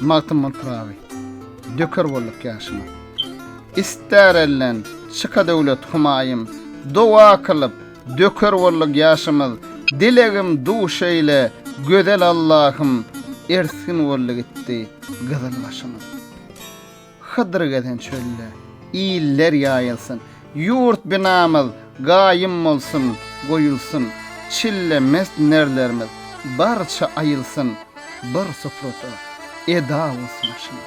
Magtymguly Pyragy, Döker bolduk ýaşyma. Ister elden çyka döwlet Humaýym, Doga kylyp, döker bolduk ýaşymyz, Dilegim duş eýle, gözel Allahym, Ersgin boldy gitdi gyzyl başymyz. Hydyr gezen çölde, iller ýaýylsyn, Ýurt binamyz gaýym bolsun, goýulsyn, Çille mest nerlerimiz barça aýylsyn, Bir suprada eda bolsun aşyň.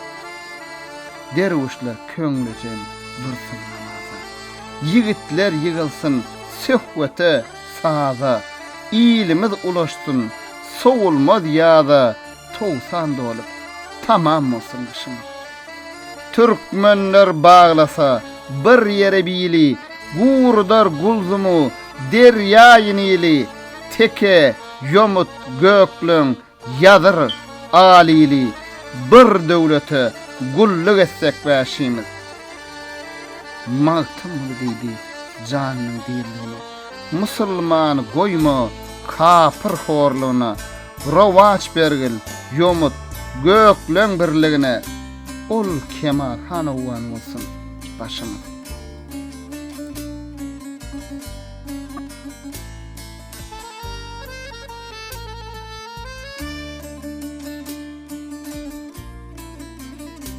Derwüşler köňlüjen dursun namaza, Ýigitler ýygylsyn söhbete, saza, Ilimiz ulaşsyn sowulmaz ýaza, Towsan dolup, tamam bolsun gyşymyz. Türkmenler baglasa, bir ýere bili, Gurudar Gulzumu, derýaýy Nili, Teke, ýomut, gökleň, ýazyr, alili, Bir döwlete gulluk etsek bäşimiz. Magtymguly diýdi janynyň dirligine, Musulman goýma kapyr horlugyna, Rowaçbergil, ýomut, gökleň birligine. Ol kemal hanawan bolsun başymyz.